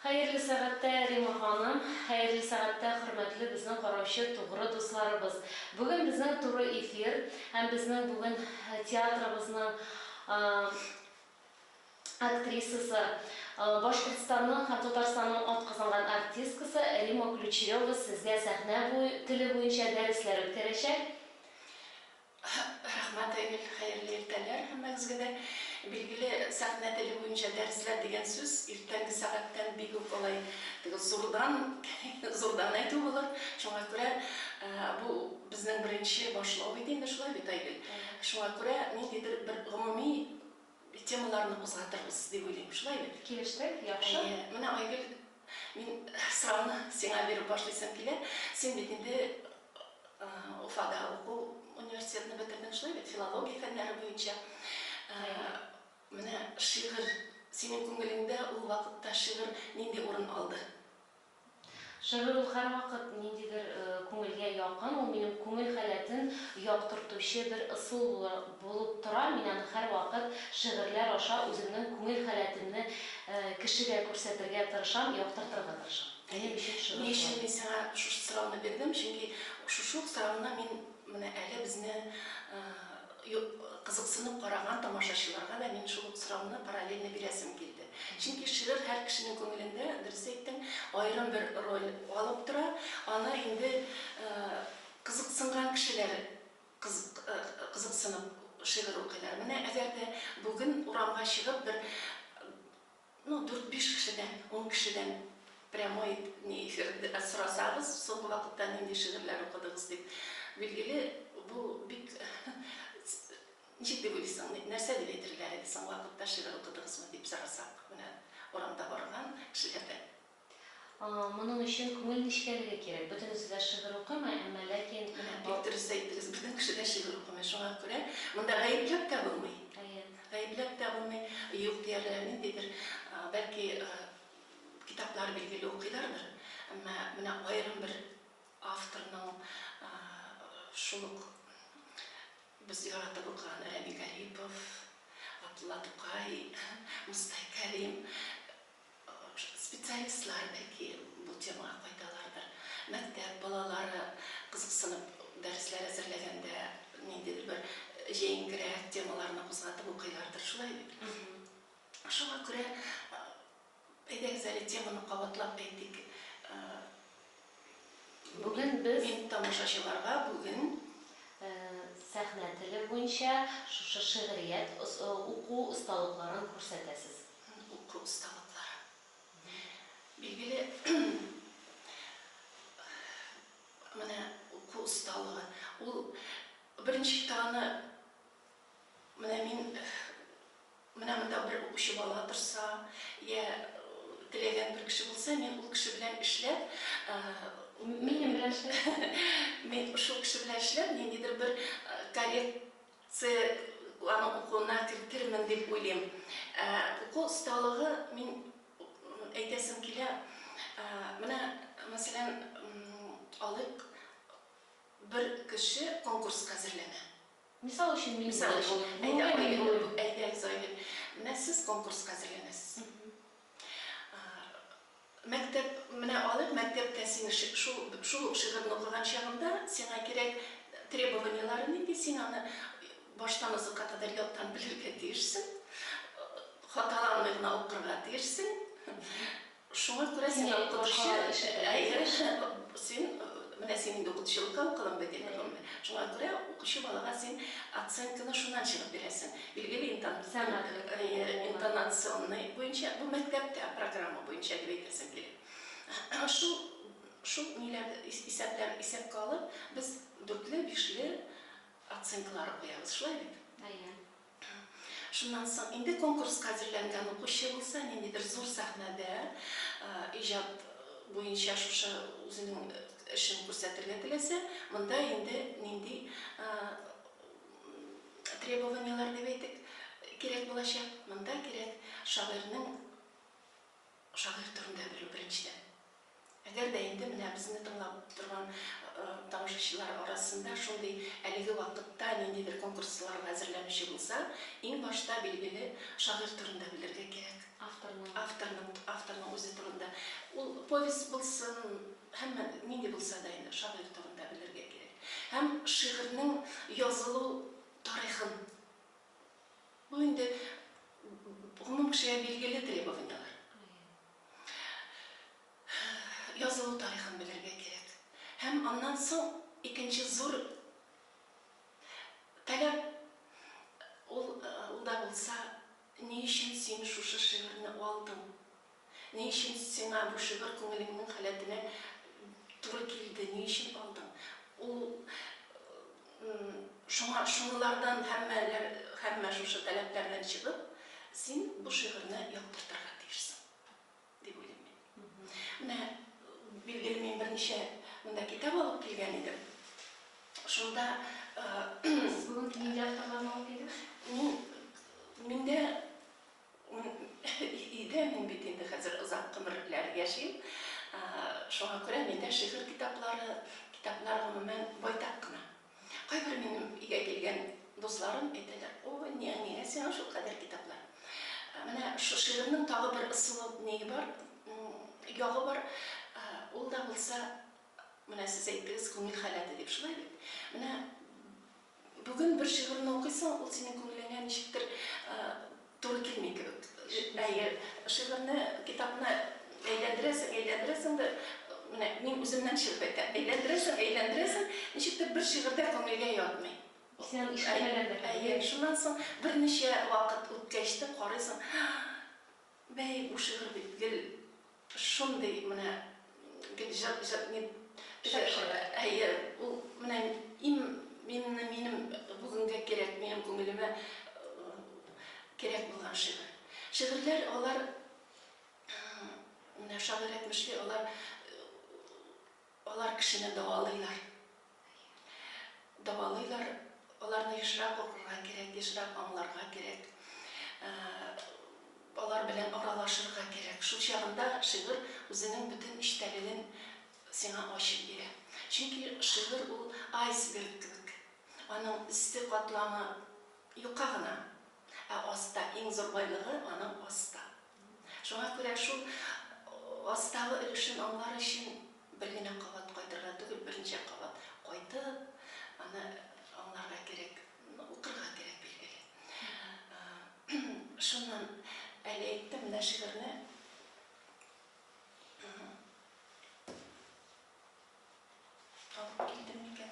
Хәерле сәгатьтә, Рима ханым! Хәерле сәгатьтә, хөрмәтле безнең караучы тугры дусларыбыз! Бүген безнең туры эфир һәм безнең бүген театрыбызның актрисасы, Башкортстанның һәм Татарстанның атказанган артисткасы Рима Ключерева сезгә сәхнә теле буенча дәресләр үткәрәчәк. Рәхмәт, Айгөл! Хәерле иртәләр һәммәгезгә дә! Билгеле, сәхнә теле буенча дәресләр дигән сүз иртәнге сәгатьтән бик үк алай зурдан, зурдан әйтү булыр. Шуңа күрә бу безнең беренче башлау бит инде, шулай бит, Айгөл? Шуңа күрә ниндидер бер гомуми темаларны кузгатырбыз дип уйлыйм, шулай бит? Килештек, яхшы. Әйе, менә Айгөл Мин сорауны сиңа биреп башлыйсым килә. Син бит инде Уфада уку университетны бетердең, шулай бит, филология фәннәре буенча. Менә шигырь, синең күңелеңдә ул вакытта шигырь нинди урын алды? Шигырь ул һәрвакыт ниндидер күңелгә якын, ул минем күңел халәтен яктыртучы бер ысул Булып тора, мин аны һәрвакыт шигырьләр аша үземнең күңел халәтемне кешегә күрсәтергә тырышам, яктыртырга тырышам. Минем өчен шигырь шулай. Ни өчен мин сиңа шушы сорауны бирдем, чөнки шушы ук сорауны мин менә әле безне кызыксынып караган тамашачыларга да мин шул ук сорауны параллельно бирәсем килде. Чөнки шигырь һәр кешенең күңелендә, дөрес әйттең, аерым бер роль алып тора, аны инде кызыксынган кешеләр Кызык, кызыксынып шигырь укыйлар. Менә әгәр дә бүген урамга чыгып бер, ну, дүрт-биш кешедән, ун кешедән прямой не эфир сорасагыз, соңгы вакытта нинди шигырьләр укыдыгыз дип, билгеле, бу бик, ничек дип уйлыйсың, нәрсә дип әйтерләр иде, соңгы вакытта шигырь укыдыгызмы дип сорасак, менә урамда барган кешеләрдән? Моның өчен күңел нечкәлеге кирәк. Бөтенесе дә шигырь укымый, әмма ләкин. Менә бик дөрес әйттегез, бөтен кеше дә шигырь укымый, шуңа күрә монда гаепләп тә булмый. Әйе. Гаепләп тә булмый, юк диярләр, ниндидер, бәлки, китаплар билгеле укыйлардыр, әмма менә аерым бер авторның шул ук без яратып укыган Рәми Гарипов, Габдулла Тукай, Мостай Кәрим, Специалистлар, бәлки, бу темага кайталардыр. Мәктәп балалары кызыксынып дәресләр әзерләгәндә ниндидер бер җәенкерәк темаларны кузгатып укыйлардыр, шулай бит? Шуңа күрә әйдәгез әле теманы кабатлап әйтик. Бүген без. Мин тамашачыларга бүген. Сәхнә теле буенча шушы шигърият уку осталыкларын күрсәтәсез. Уку осталыклары. Билгеле, менә уку осталыгы, ул беренче таны менә мин. Менә монда бер укучы бала торса, йә теләгән бер кеше булса, мин ул кеше белән эшләп, минем белән эшләп, мин шул кеше белән эшләп, ниндидер бер коррекция аның укуына кертермен дип уйлыйм. Уку осталыгы мин әйтәсем килә. Менә, мәсәлән, алыйк, бер кеше конкурска әзерләнә. Мисал өчен мин Мисал булып өчен, булып, әйдә, Айгөл булып булып, әйдә, Айгөл. Менә сез конкурска әзерләнәсез. Мәктәп, менә алып, мәктәптә син шул, шул ук шигырьне укыган чагында, сиңа кирәк требованиеләре нинди, син аны баштан азакка кадәр яттан белергә тиешсең, хаталанмый гына укырга тиешсең. Шуңа күрә син укытучы, әйе, син, менә син инде укытучылыкка укыдың бит инде, гомумән. Шуңа күрә укучы балага син оценканы шуннан чыгып бирәсең. Билгеле интонационный буенча, бу мәктәптә программа буенча дип әйтәсем килә. Әнә шул, шул ниләр, исәпләр исәпкә алып, без дүртле, бишле оценкалар куябыз, шулай бит? Әйе. Шуннан соң инде конкурска әзерләнгән укучы булса, нинди бер зур сәхнәдә иҗат буенча шушы үзенең эшен күрсәтергә теләсә, монда инде нинди требованиеләр дип әйтик, кирәк булачак? Монда кирәк шагыйрьнең. Шагыйрь турында белү беренчедән. Әгәр дә инде менә безне тыңлап торган тамашачылар арасында шундый әлеге вакытта ниндидер конкурсларга әзерләнүче булса, иң башта билгеле шагыйрь турында белергә кирәк. Авторның. Авторның, авторның үзе турында. Ул повесть булсын, һәммә нинди булса да инде шагыйрь турында белергә кирәк. Һәм шигырьнең язылу тарихын. Бу инде гомум кешегә билгеле требованияләр. Язылу тарихын белергә кирәк. Һәм аннан соң икенче зур таләп ул да булса, ни өчен син шушы шигырьне алдың? Ни өчен сиңа бу шигырь күңелеңнең халәтенә туры килде, ни өчен алдың? Ул шуңа шунылардан һәммәләр һәммә шушы таләпләрдән чыгып, син бу шигырьне яктыртырга тиешсең, дип уйлыйм мин. Менә билгеле мин берничә монда китап алып килгән идем. Шунда Сез бүген ниләр алып килдегез? Мин миндә Идем, мин бит инде хәзер озак гомерләр яшим. Шуңа күрә миндә шигырь китаплары, китаплар гомумән байтак кына. Кайбер минем өйгә килгән дусларым әйтәләр, Ой, нигә сиңа шул кадәр китаплар? Менә шул шигырьнең тагы бер ысулы ние бар, ягы бар, ул да булса, менә сез әйттегез, күңел халәте дип, шулай бит? Менә Бүген бер шигырьне укыйсың, ул синең күңелеңә ничектер туры килми кебек. Әйе, шигырьне, китапны әйләндерәсең, әйләндерәсең дә, менә мин үземнән чыгып әйтәм, әйләндерәсең, әйләндерәсең, ничектер бер шигырь дә күңелгә ятмый. Исән ишетмәгән дә кебек. Әйе, шуннан соң берничә вакыт үткәч тә карыйсың, һа, бәй, бу шигырь бит гел Шундый менә бит җыр җыр ни Чыпчык. Әйе, ул менә им минне минем бүгенгә кирәк, минем күңелемә кирәк булган шигырь. Шигырьләр алар менә шагыйрь әйтмешли, алар Алар кешене дәвалыйлар. Дәвалыйлар. Аларны ешрак укырга кирәк, ешрак аңларга кирәк. Алар белән аралашырга кирәк. Шул чагында шигырь үзенең бөтен эчтәлеген сиңа ачып бирә. Чөнки шигырь ул айсберг кебек. Аның өсте катламы юка гына, ә аста, иң зур байлыгы аның аста. Шуңа күрә шул астагы өлешен аңлар өчен бер генә кабат кайтырга түгел, берничә кабат кайтып, аны аңларга кирәк, укырга кирәк, билгеле. Шуннан әле әйттем, менә шигырьне алып килдем микән?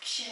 Кичә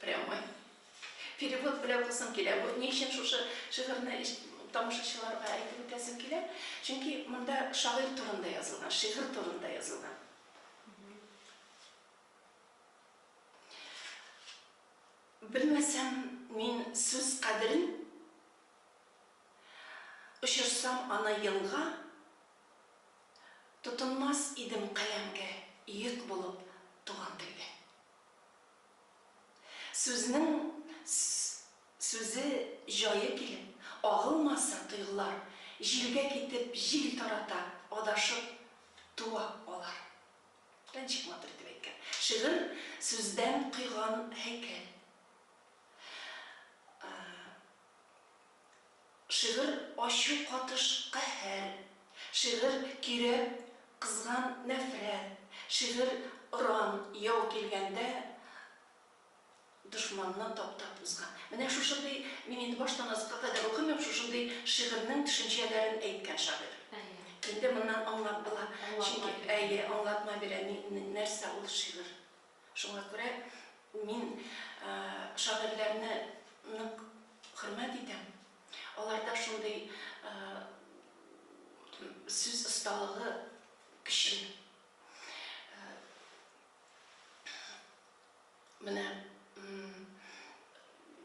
Прямой. Перевод белән укысым килә. Бу ни өчен шушы шигырьне тамашачыларга әйтеп үтәсем килә? Чөнки монда шагыйрь турында язылган, шигырь турында язылган. Белмәсәм мин сүз кадерен, очырсам аны елга, тотынмас идем каләмгә йөк булып туган телгә. Сүзнең сүзе, җае килеп, агылмаса, тойгылар, җилгә китеп, җил тарата, адашып туа алар. Рәнчик матур итеп әйткән. Шигырь, сүздән койган һәйкәл. Шигырь ачу катыш каһәр, шигырь кирәп кызган нәфрәт, шигырь оран яу килгәндә дошманны таптап узган. Менә шушындый, мин инде баштан азыкка кадәр укымыйм, шушындый шигырьнең төшенчәләрен әйткән шагыйрь. Инде моннан аңлап була, чөнки, әйе, аңлатма бирә, нәрсә ул шигырь. Шуңа күрә мин шагыйрьләрне нык хөрмәт итәм. Аларда шундый сүз осталыгы көчле. Менә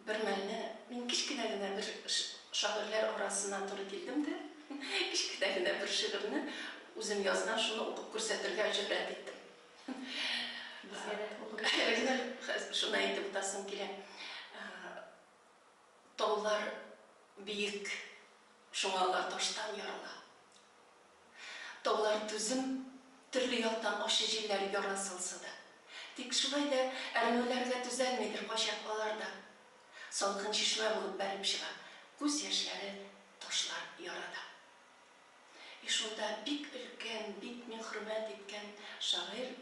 Бермәлне мин кечкенә генә бер шагыйрьләр арасына туры килдем дә, кечкенә генә бер шигырьне, үзем язган, шуны укып күрсәтергә җөрьәт иттем. Безгә дә укып. Әле генә хәзер шуны әйтеп утасым килә. Таулар биек, шуңа алар таштан ярала. Таулар түзем, төрле яктан ачы җилләр ярын салса да. Тик шулай да әрнүләргә төзәлмидер кайчак алар да. Салкын чишмә булып бәреп чыга күз яшьләре ташлар ярада. И шунда бик өлкән, бик мин хөрмәт иткән шагыйрь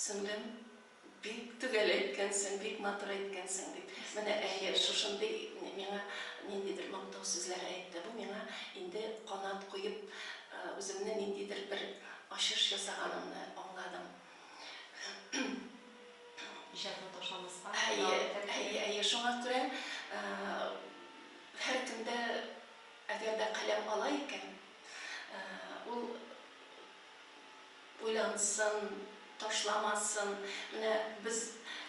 Сеңлем, бик төгәл әйткәнсең, бик матур әйткәнсең, дип, менә, әйе, шушындый миңа ниндидер мактау сүзләре әйтте. Бу миңа инде канат куеп, үземне ниндидер бер ачыш ясаганымны аңладым. Иҗатын ташламаска дәвам итәргә кирәк. Әйе, әйе, шуңа күрә һәркем дә, әгәр дә каләм ала икән, ул Уйлансын, ташламасын. Менә без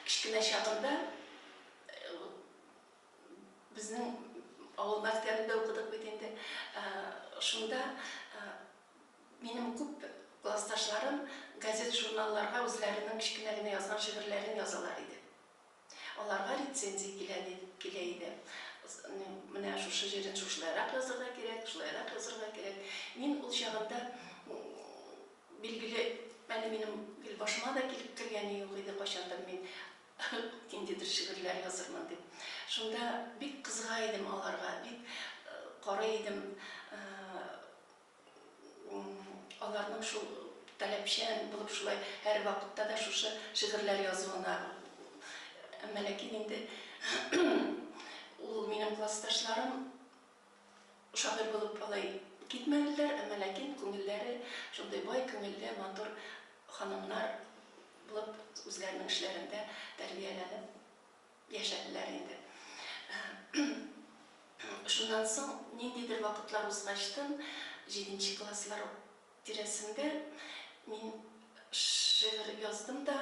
кечкенә чагында безнең авыл мәктәбендә укыдык бит инде. Шунда минем күп классташларым газет-журналларга үзләренең кечкенә генә язган шигырьләрен язалар иде. Аларга рецензия килә дип килә иде. Менә шушы җирен шушылайрак язырга кирәк, шулайрак язырга кирәк. Мин ул чагында билгеле, әле минем гел башыма да килеп кергәне юк иде, кайчандыр мин ниндидер шигырьләр язырмын дип. Шунда бик кызыга идем аларга, бик карый идем, Аларның шул таләпчән булып шулай һәрвакытта да шушы шигырьләр язуына. Әмма ләкин инде ул минем классташларым шагыйрь булып алай китмәделәр, әмма ләкин күңелләре шундый бай күңелле, матур ханымнар булып үзләренең эшләрендә тәрбияләнеп, Яшәделәр инде. Шуннан соң ниндидер вакытлар узгачтын, җиденче класслар тирәсендә мин шигырь яздым да,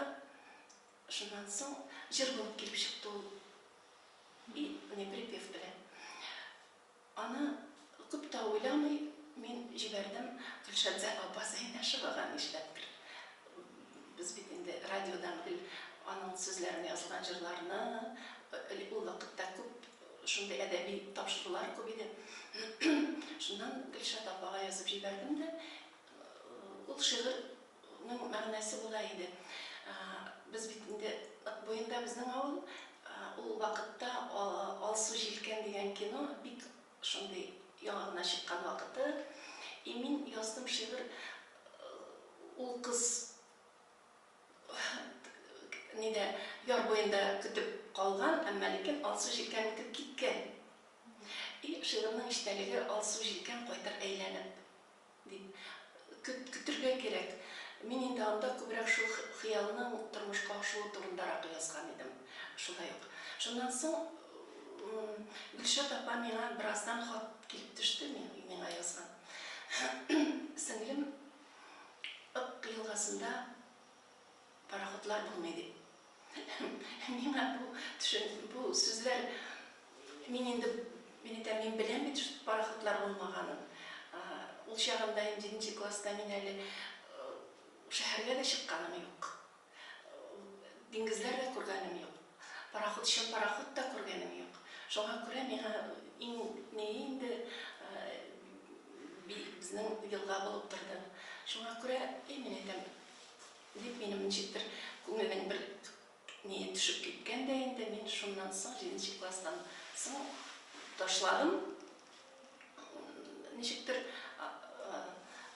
шуннан соң җыр булып килеп чыкты ул, и не припев белән. Аны күп тә уйламый мин җибәрдем, Гөлшәмзә апа Зәйнәшевага нишләптер. Без бит инде радиодан гел аның сүзләренә язылган җырларны, элек ул вакытта күп шундый әдәби тапшырулар күп иде. Шуннан Гөлшат апага язып җибәрдем дә, ул шигырь. Ның мәгънәсе була иде. Без бит инде Ык буенда безнең авыл. Ул вакытта Алсу җилкән дигән кино бик шундый яңа гына чыккан вакыты. И мин яздым шигырь ул кыз нидә яр буенда көтеп калган, әмма ләкин Алсу җилкән үтеп киткән. И шигырьнең эчтәлеге Алсу җилкән кайтыр әйләнеп. Дип, көт, көтергә кирәк. Мин инде анда күбрәк шул хыялның тормышка ашуы турындарак язган идем. Шулай ук. Шуннан соң, Гөлшат апа миңа бераздан хат килеп төште, миңа язган. Сеңлем, Ык елгасында. Пароходлар булмый дип. Миңа бу төшен, бу сүзләр, мин инде, мин әйтәм, мин беләм бит шул пароходлар булмаганын. Ул чагында ин җиденче класста мин әле шәһәргә дә чыкканым юк. Диңгезләр дә күргәнем юк. Пароходчы пароход та күргәнем юк. Шуңа күрә миңа ин не инде безнең елга булып торды. Шуңа күрә, ин мин әйтәм, Дип, минем ничектер күңелнең бер ние төшеп киткән дә инде, мин шуннан соң, җиденче класстан соң ташладым. Ничектер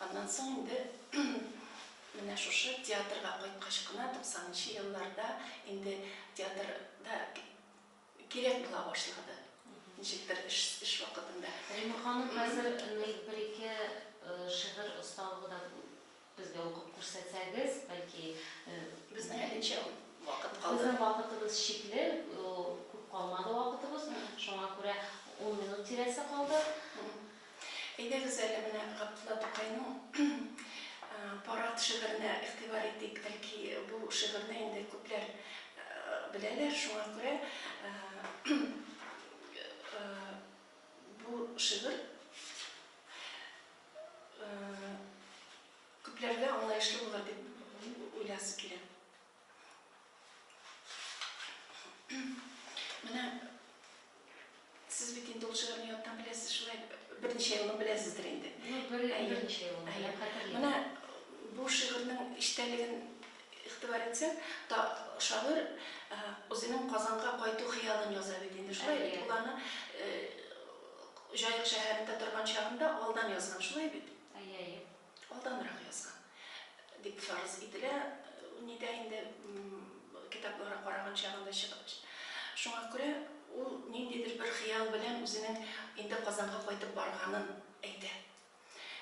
аннан соң инде менә шушы театрга кайткач кына, 90 нчы елларда инде театрда Кирәк була башлады, ничектер эш, эш вакытында. Римма ханым, хәзер ни, бер-ике шигырь осталыгы да безгә укып күрсәтсәгез, бәлки. Безнең әлегчә вакыт калды. Безнең вакытыбыз чикле, күп калмады вакытыбыз. Шуңа күрә ун минут тирәсе калды. Әйдәгез әле менә Габдулла Тукайның Парад шигыренә игътибар итик. Бәлки бу шигырьне инде күпләр беләләр, шуңа күрә бу шигырь күпләргә аңлаешлы булыр дип уйласым килә. Менә сез бит инде ул шигырьне яттан беләсез, шулай берничә елны беләсездер инде. Берничә ел. Менә бу шигырьнең эчтәлеген игътибар итсәк, та шагыйрь үзенең Казанга кайту хыялын яза бит инде. Шулай бит ул аны Җаек шәһәрендә торган чагында алдан язган, шулай бит? Әйе, әйе. алданрак язган дип фарыз ителә, нидә инде китаплары караган чагында чыгып. Шуңа күрә ул ниндидер бер хыял белән үзенең инде Казанга кайтып барганын әйтә.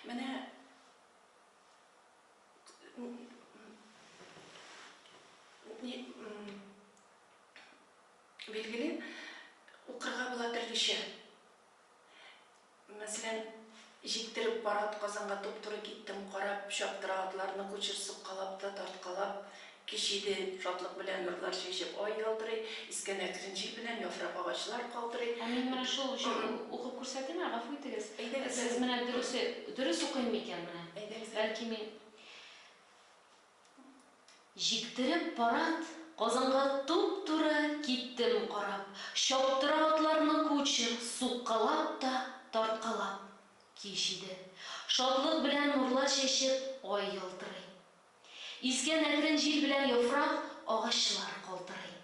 Менә билгеле, укырга була төрлечә. Мәсәлән, җиктереп пар атказанга туп-туры киттем, карап, чаптыра атларны кучер суккалап та, тарткалап, кич иде, шатлык белән нурлар чәчеп, ай ялтырый, искән әкрен җил белән яфрак агачлар калтырый. Ә мин менә шул җыр укып күрсәтимме, гафу итегез? Әйдәгез әле. Сез менә дөресе, дөрес укыйммы икән менә? Әйдәгез әле. Бәлки мин. Җиктереп парад Казанга туп-туры киттем карап, чаптыра атларны кучер, суккалап та, тарткалап. Кич иде. Шатлык белән нурлар чәчеп, ай ялтырый. Искән әкрен җил белән яфрак, агачлар калтырый.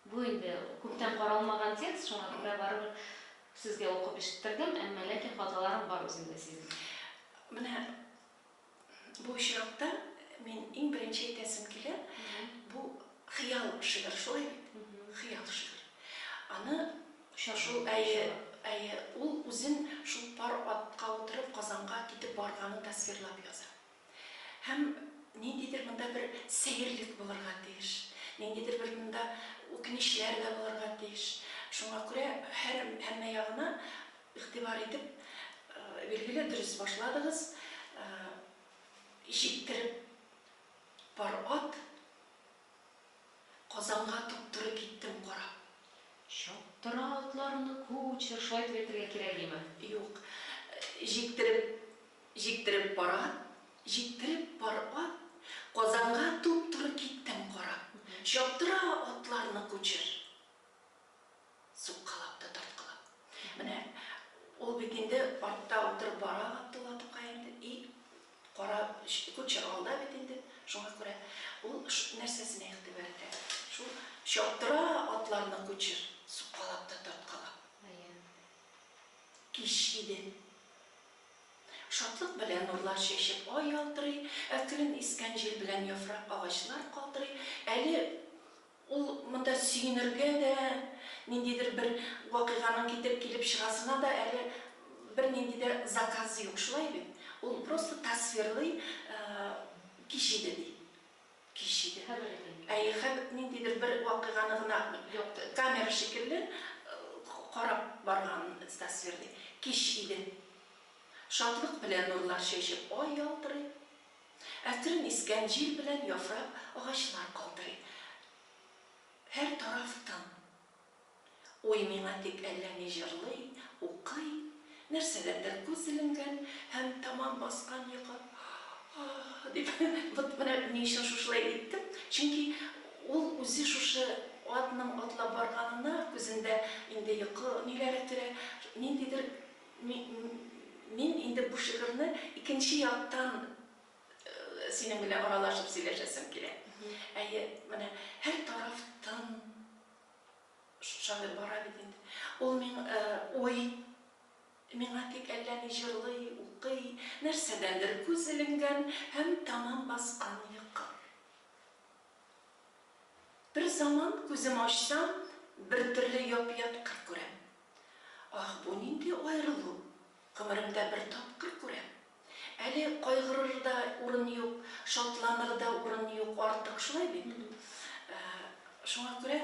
Бу инде күптән каралмаган текст, шуңа күрә барыбер сезгә укып ишеттердем, әмма ләкин хаталарым бар үземдә сизелә. Менә. Бу очракта мин иң беренче әйтәсем килә, бу хыял шигырь, шулай бит? Хыял шигырь. Аны шул әйе, әйе, ул үзен шул пар атка утырып Казанга китеп барганын тасвирлап яза. Һәм ниндидер монда бер сәерлек булырга тиеш, ниндидер бер монда үкенечләр дә булырга тиеш. Шуңа күрә һәр һәммә ягына Игътибар итеп, билгеле, дөрес башладыгыз. Җиктереп пар ат Казанга туп-туры киттем карап. Чаптыра атларны кучер, шулай итеп әйтергә кирәгиме? Юк. Җиктереп Җиктереп пар ат Җиктереп пар ат Казанга туп-туры киттем карап. Чаптыра атларны кучер. Суккалап та тарткалап. Менә ул бит инде артта утырып бара Габдулла Тукай инде, и кара кучер алда бит инде, шуңа күрә ул нәрсәсенә игътибар итә, шул чаптыра атларны кучер, суккалап та тарткалап. Кич иде. Шатлык белән нурлар чәчеп ай ялтырый, әкрен искән җил белән яфрак агачлар калтырый, әле Ул монда сөенергә дә, ниндидер бер вакыйганың китереп килеп чыгасына да әле бернинди дә заказы юк, шулай бит? Ул просто тасвирлый, кич иде, ди. Кич иде. Әйе, хәб, ниндидер бер вакыйганы гына камера шикелле карап барганын тасвирлый. Кич иде. Шатлык белән нурлар чәчеп, ай ялтырый. Әкрен искән җил белән яфрак агачлар калтырый. Һәр тараф тын. Уй миңа тик әллә ни җырлый, укый, нәрсәгәдер күз эленгән һәм тәмам баскан йокы Аһ! дип Вот менә ни өчен шушылай әйттем, чөнки ул үзе шушы атның атлап барганына күзендә инде йокы ниләре керә, ниндидер Мин инде бу шигырьне икенче яктан синең белән аралашып сөйләшәсем килә. Әйе, менә һәр тараф тын. Шагыйрь бара бит инде. Ул миң, уй, миңа тик әллә ни җырлый, укый, нәрсәдәндер күз эленгән һәм тәмам баскан йокы. Берзаман күзем ачсам, бертөрле яп-ят кыр күрәм. Аһ, бу нинди аерылу! Гомеремдә бер тапкыр күрәм. Әле кайгырыр да урын юк, шатланыр да урын юк артык, шулай бит? Шуңа күрә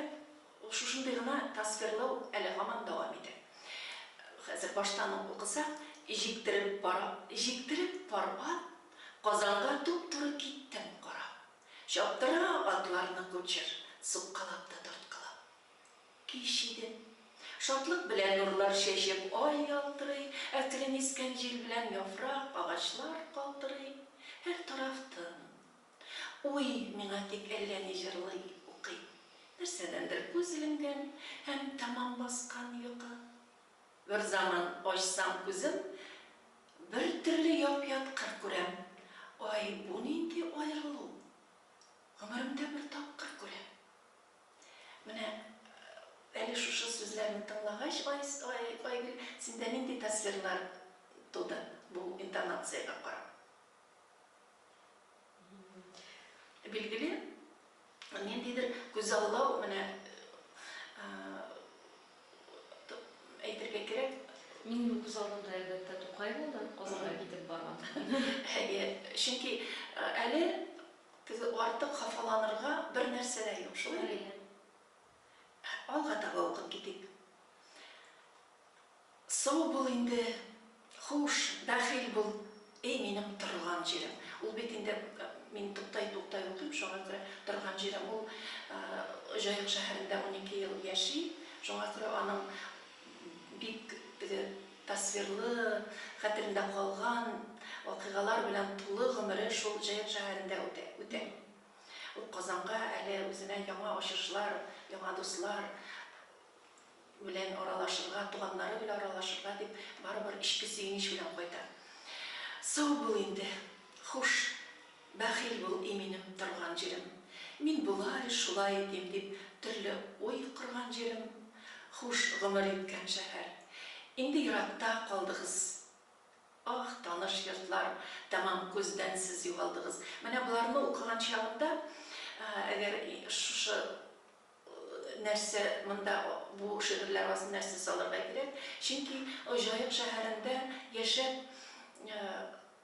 шушындый гына тасвирлау әле һаман дәвам итә. Хәзер баштан ук укысак, Җиктереп пар җиктереп пар ат, Казанга туп-туры киттем карап. Чаптыра атларны кучер, суккалап та тарткалап. Кич иде. Шатлык белән нурлар чәчеп, ай ялтырый, әкрен искән җил белән яфрак, агачлар калтырый. Һәр тараф тын. Уй миңа тик әллә ни җырлый, укый. Нәрсәдәндер күз эленгән һәм тәмам баскан йокы. Берзаман ачсам күзем, бертөрле яп-ят кыр күрәм. Ай, бу нинди аерылу? Гомеремдә бер тапкыр күрәм. Менә әле шушы сүзләрне тыңлагач, Айгөл, синдә нинди тасвирлар туды бу интонациягә карап? Билгеле, ниндидер күзаллау, менә әйтергә кирәк. Минем күзаллауда, әлбәттә, Тукай булды, Казанга китеп барган. Әйе, чөнки әле Теге артык хафаланырга бер нәрсә дә юк, шулай бит? Алга таба укып китик. Сау бул инде, хуш, бәхил бул, эй минем торган җирем. Ул бит инде, мин туктайтуктай укыйм, шуңа күрә торган җирем ул Җаек шәһәрендә унике ел яши, шуңа күрә аның бик теге Тасвирлы, хәтерендә калган вакыйгалар белән тулы гомере шул Җаек шәһәрендә үтә. Үтә. Ул Казанга әле үзенә яңа ачышлар, яңа дуслар белән аралашырга, туганнары белән аралашырга дип барыбер эчке сөенеч белән кайта. Сау бул инде, хуш! Бәхил бул, и минем торган җирем, Мин болай, шулай итим, дип төрле уй корган җирем, Хуш гомер иткән шәһәр, инде еракта калдыгыз, Аһ, таныш йортлар, тәмам күздән сез югалдыгыз. Менә боларны укыган чагында, әгәр шушы нәрсә монда, бу шигырьләр арасында нәрсә салырга кирәк, чөнки Җаек шәһәрендә яшәп,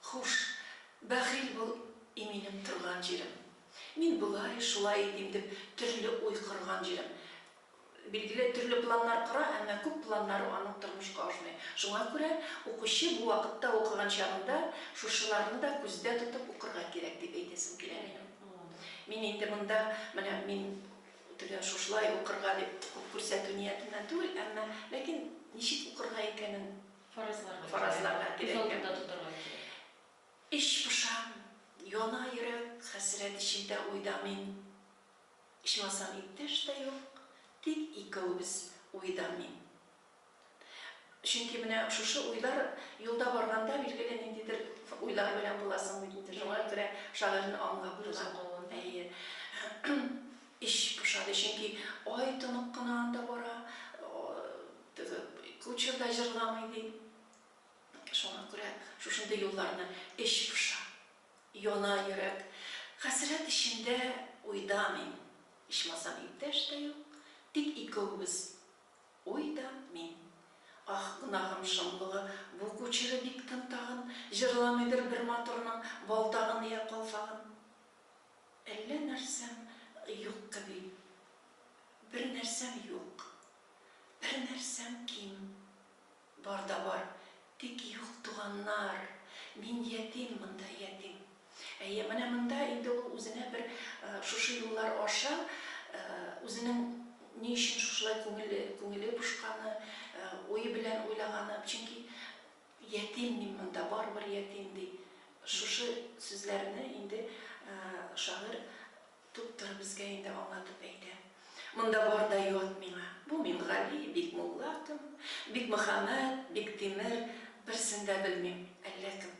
Хуш, бәхил бул, и минем торган җирем. Мин болай, шулай итим дип төрле уй корган җирем. Билгеле, төрле планнар кора, әмма күп планнары аның тормышка ашмый. Шуңа күрә укучы бу вакытта укыган чагында шушыларны да күздә тотып укырга кирәк, дип әйтәсем килә минем. Мин инде монда, менә мин тегә шушылай укырга дип күп күрсәтү ниятеннән түгел, әмма, ләкин ничек укырга икәнен, Фаразларга кирәк. Фаразларга кирәк. Күз алдында тотарга кирәк. Эч пошам, яна йөрәк, хәсрәт эчендә уйда мин. Ичмасам иптәш тә юк, тик икәүбез уйда мин. Чөнки менә шушы уйлар юлда барганда билгеле ниндидер уйлар белән буласың бит инде, шуңа күрә шагыйрьне аңлап була. Әйе. Эч пошады, чөнки ай тонык кына анда бара. Теге кучер да җырламый ди. Шуңа күрә шушындый юлларны эч поша. Яна йөрәк. Хәсрәт эчендә, уйда мин. Ичмасам иптәш тә юк. Тик икәүбез. Уй да, мин. Аһ, гөнаһым шомлыгы, бу кучеры бик тын тагын, җырламыйдыр бер матурның балтагын йә калфагын. Әллә нәрсәм юк кеби. Бер нәрсәм юк. Бер нәрсәм ким, бар да бар, тик юк туганнар, мин ятим монда, ятим. Әйе, менә монда инде ул үзенә бер шушы юллар аша үзенең ни өчен шушылай күңеле, күңеле пошканы, уе белән уйлаганы, чөнки ятим мин монда, барыбер ятим, ди. Шушы сүзләрне инде шагыйрь Туктар, безгә инде аңлатып әйтә. Монда бар да ят миңа. Бу Мингали, Бикмулла кем, Бикмөхәммәт, Биктимер, берсен дә белмим, әллә кем.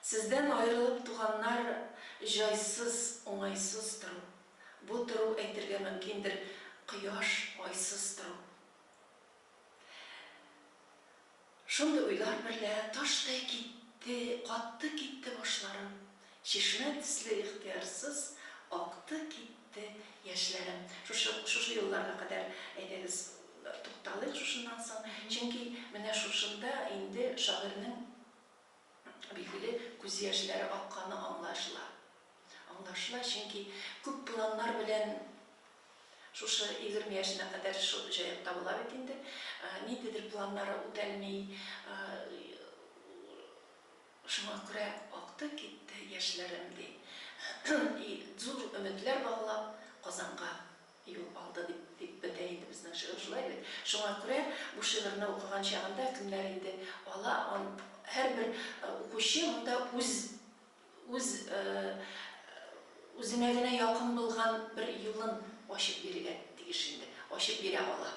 Сездән аерылып туганнар җайсыз, уңайсыз тору. Бу тору әйтергә мөмкиндер, кояш, айсыз тору. Шундый уйлар берлә таштай китте, катты китте башларым, чишмә төсле ихтыярсыз акты китте яшьләрем. Шушы, шушы юлларга кадәр, әйдәгез, тукталыйк шушыннан соң, чөнки менә шушында инде шагыйрьнең Билгеле, күз яшьләре акканы аңлашыла. Аңлашыла, чөнки күп планнар белән шушы егерме яшенә кадәр шул җаекта була бит инде. Ниндидер планнары үтәлми. Шуңа күрә акты китте яшьләрем, ди. И зур өметләр баглап, Казанга. Юл алды бит, дип бетә инде безнең шигырь, шулай бит? Шуңа күрә бу шигырьне укыган чагында кемнәр инде ала, ан, һәрбер укучы монда үз, үз, э, үзенә генә якын булган бер юлын ачып бирергә тиеш инде, ачып бирә ала.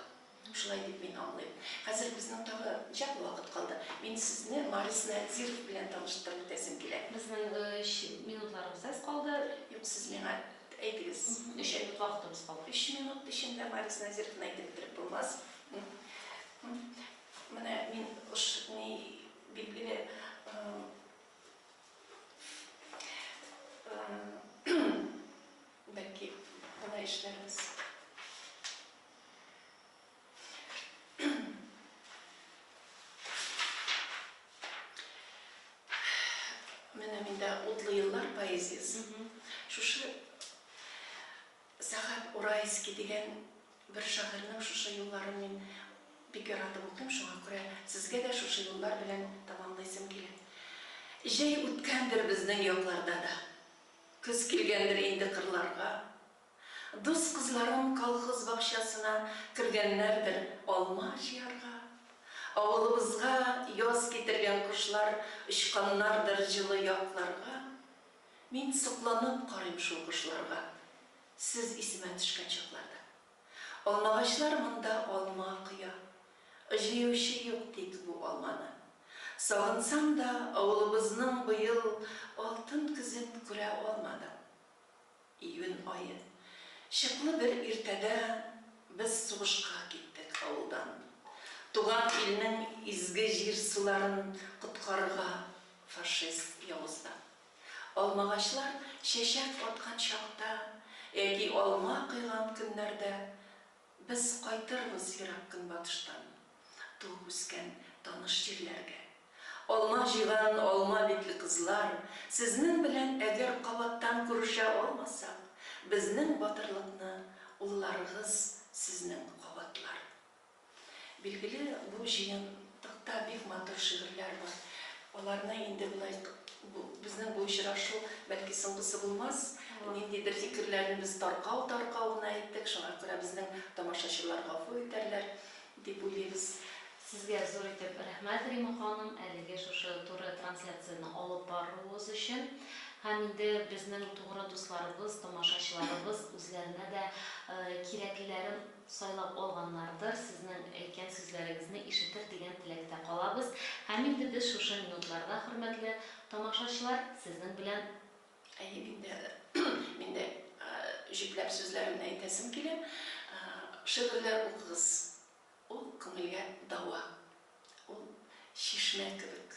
Шулай дип мин аңлыйм. Хәзер безнең тагы ничәкле вакыт калды? Мин сезне Марис Надзиров белән таныштырып үтәсем килә. Безнең өч минутларыбыз әз калды. Юк, сез миңа әйтегез. Өч минут вакытыбыз калды. Өч минут эчендә Марис Надзировны әйтеп бетереп булмас. Менә мин уш ни билгеле бәлки болай эшләрбез. Менә миндә утлы еллар поэзиясы. Шушы Сәхәп Урайский дигән бер шагыйрьнең шушы юлларын мин бик яратып укыйм, шуңа күрә сезгә дә шушы юллар белән тамамлыйсым килә. Җәй үткәндер безнең якларда да. Көз килгәндер инде кырларга. Дус кызларым колхоз бакчасына кергәннәрдер алма җыярга. Авылыбызга яз китергән кошлар очканнардыр җылы якларга. Мин сокланып карыйм шул кошларга, сез исемә төшкән чакларда. Алмагачлар монда алма коя, җыючы юк тик бу алманы. Сагынсам да, авылыбызның быел алтын көзен күрә алмадым. Июнь ае. Чыклы бер иртәдә без сугышка киттек авылдан. Туган илнең изге җир-суларын коткарырга фашист явыздан. Алмагачлар чәчәк аткан чакта яки алма койган көннәрдә Без кайтырбыз ерак көнбатыштан, туып-үскән таныш җирләргә. Алма җыйган алма битле кызлар, сезнең белән әгәр кабаттан күрешә алмасак, безнең батырлыкны улларыгыз сезнең кабатлар. Билгеле, бу җыен Токта бик матур шигырьләр бар. Аларны инде болай бу безнең бу очрашу бәлки соңгысы булмас. Ниндидер фикерләрне без таркау таркау гына әйттек, шуңа күрә безнең тамашачылар гафу итәрләр дип уйлыйбыз. Сезгә зур итеп рәхмәт, Рима ханым, әлеге шушы туры трансляцияне алып баруыгыз өчен. Һәм инде безнең тугры дусларыбыз, тамашачыларыбыз үзләренә дә кирәклеләрен, сайлап алганнардыр, сезнең әйткән сүзләрегезне ишетер дигән теләктә калабыз һәм инде без шушы минутларда, хөрмәтле тамашачылар, сезнең белән. Әйе, мин дә, мин дә җөпләп сүзләремне әйтәсем килә. Шигырьләр укыгыз, ул күңелгә дәва, ул чишмә кебек.